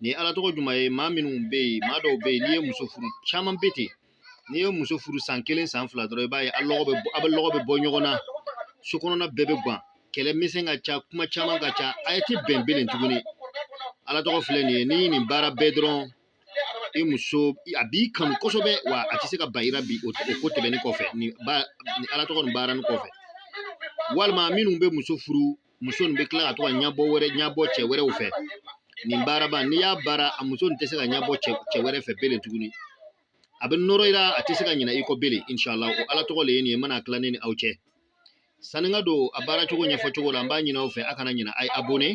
Nin ye ala tɔgɔ jumɛn ye maa minnu bɛ yen maa dɔw bɛ yen n'i ye muso furu caman bɛ ten n'i ye muso furu san kelen san fila dɔrɔn i b'a ye a lɔgɔ bɛ a bɛ lɔgɔ bɛ bɔ ɲɔgɔn na so kɔnɔna bɛɛ bɛ gan kɛlɛ misɛn ka ca kuma caman ka ca a yɛrɛ tɛ bɛn bilen tuguni ala tɔgɔ filɛ nin ye n'i ye nin baara bɛɛ dɔrɔn i muso a b'i kanu kosɛbɛ wa a tɛ se ka ban i ra bi o ko tɛmɛnen kɔfɛ nin ba ni ala tɔgɔ nin baara nin kɔfɛ walima minnu bɛ muso furu muso nin bɛ tila ka to ka ɲɛbɔ wɛrɛ ɲɛbɔ cɛ wɛrɛw fɛ nin baaraba n'i y'a baara a muso nin tɛ se ka ɲɛbɔ cɛ cɛ wɛrɛ fɛ bilen tuguni a bɛ nɔrɔ i la a tɛ se ka ɲinɛ i kɔ bilen inshallah o ala tɔgɔ de ye nin ye n bɛna tila ne ni aw cɛ sanni n ka don a baara cogo ɲɛfɔ cogo la n b'a ɲini aw fɛ a kana ɲinɛ a ye abonné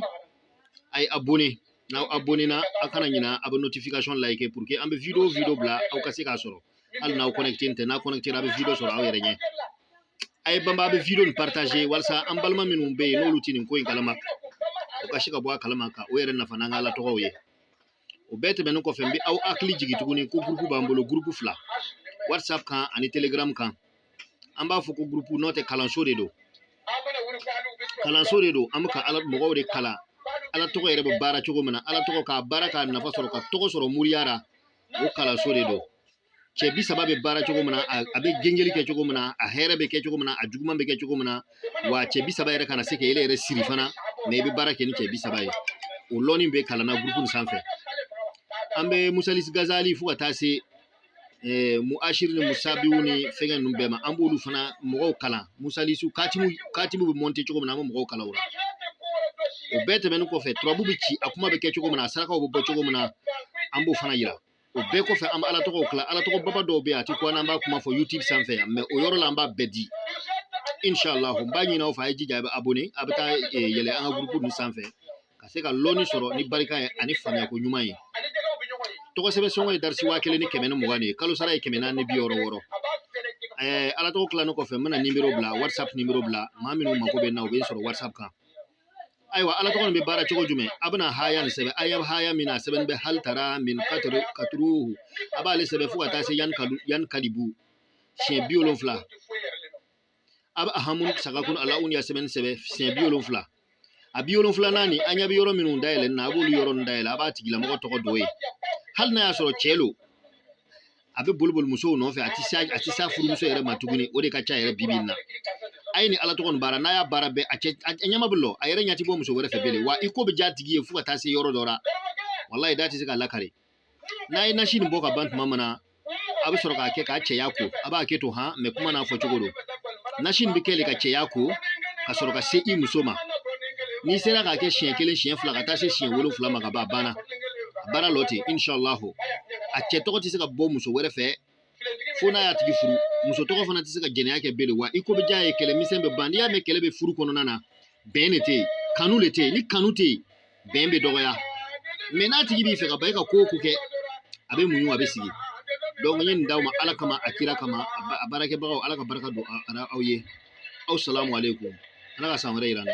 a ye abonné n'aw abonné na a kana ɲinɛ a bɛ notification like pour que an bɛ video video bila aw ka se k'a sɔrɔ hali n'aw kɔnɛkite tɛ n'a kɔnɛkitera a bɛ video sɔrɔ aw yɛrɛ ɲɛ a ye banba a bɛ video nin partager walasa an balima minnu bɛ yen n'olu tɛ nin ko in kalama u ka se ka bɔ a kalama k'u yɛrɛ nafa n'an ka ala tɔgɔw ye o bɛɛ tɛmɛnen kɔfɛ n bɛ aw hakili jigin tuguni ko gurupu b'an bolo gurupu fila whatsapp kan ani telegram kan an b'a fɔ ko gurupu n'o tɛ kalanso de don kalanso de don an bɛ ka ala mɔgɔw de kalan ala tɔgɔ yɛrɛ bɛ baara cogo min na ala tɔgɔ k'a baara k'a nafa sɔrɔ ka tɔgɔ sɔrɔ moriya ra o kalanso de don cɛ bi saba bɛ baara cogo min na a bɛ gengeli kɛ cogo min na a hɛrɛ bɛ kɛ cogo min na a juguman bɛ kɛ cogo min na wa cɛ bi saba yɛrɛ kana se k'ele yɛrɛ siri fana mais i bɛ baara kɛ ni cɛ bi saba ye o lɔni bɛ kalan na gurupu sanfɛ an bɛ musalisi gazali fo ka taa se muasiri ni musabiw ni fɛngɛ ninnu bɛɛ ma an b'olu fana mɔgɔw kalan musalisiw katimu bɛ mɔnte cogo min na an bɛ mɔgɔw kalan o la o bɛɛ tɛmɛnen kɔfɛ turabu bɛ ci a kuma bɛ kɛ cogo min na a sarakaw bɛ bɔ cogo min na an b'o fana yira o bɛɛ kɔfɛ an bɛ ala tɔgɔw tila ala tɔgɔ baba dɔw bɛ yen a tɛ kun an b'a kuma fɔ youtube sanfɛ yan mais o yɔrɔ la an b'a bɛɛ di inshallah n b'a ɲin'aw fɛ a ye jija a bɛ abonné a bɛ taa eh, yɛlɛ an ka gurupu ninnu sanfɛ ka se ka lɔnni sɔrɔ ni barika ye ani faamuyako ɲuman ye tɔgɔ sɛbɛn sɔngɔ ye darisi waa kelen ni kɛmɛ ni mugan de ye kalo sara ye kɛmɛ naani ni bi wɔɔrɔ wɔɔrɔ ɛɛ ala tɔgɔ tilannen kɔfɛ n bɛna nimero bila whatsapp nimero bila maa minnu mako bɛ n na u bɛ n sɔrɔ whatsapp kan ayiwa ala tɔgɔ nin bɛ baara cogo jumɛn a bɛna haya nin sɛbɛn a ɲɛ bɛ haya min na a sɛbɛnnen bɛ hali tara min katuru katuruhu a b'ale sɛbɛn fo ka taa se yankalibu siɲɛ bi wolonfila a bɛ ahamun sagakun alaun ya sɛbɛnni sɛbɛn siɲɛ bi wolonfila a bi wolonfilanan nin a ɲɛ bɛ yɔrɔ minnu dayɛlɛ na a b'olu yɔrɔ ninnu dayɛlɛ a b'a tigilamɔgɔ tɔgɔ don yen hali n'a y'a sɔrɔ cɛ don a bɛ boli boli musow nɔfɛ a tɛ se a tɛ se a furumuso yɛrɛ ma tuguni o de ka ca yɛrɛ bibi in na a ye nin ala tɔgɔ nin baara n'a y'a baara bɛɛ a cɛ a ɲɛma bɛ lɔ a yɛrɛ ɲɛ tɛ bɔ muso wɛrɛ fɛ bilen wa i ko bɛ diya a tigi ye fo ka taa se yɔrɔ dɔ la walayi da tɛ se k'a lakali n'a ye nasi nin bɔ ka ban tuma min na a bɛ sɔrɔ k'a kɛ k'a cɛya ko a b'a kɛ to han mɛ kuma n'a fɔ cogo don nasi nin bɛ kɛ le ka cɛya ko ka sɔrɔ ka se i muso ma n'i sera k'a kɛ siɲɛ kelen siɲɛ fila ka taa se siɲɛ wolonfila ma ka ban a banna a baara lo ten inshallahu a cɛ tɔgɔ tɛ se ka bɔ muso wɛrɛ fɛ fo n'a y'a tigi furu muso tɔgɔ fana tɛ se ka jɛnɛya kɛ belen wa i ko bɛ diya a ye kɛlɛ misɛn bɛ ban n'i y'a mɛn kɛlɛ bɛ furu kɔnɔna na bɛn le tɛ yen kanu le tɛ yen ni kanu tɛ yen bɛn bɛ dɔgɔya mɛ n'a tigi b'i fɛ ka ban i ka ko o ko kɛ a bɛ muɲu a bɛ sigi donc n ye nin d'aw ma ala kama a kira kama a baarakɛbagaw ala ka baraka don aw ye asalamu aleykum ala ka san wɛrɛ yira an na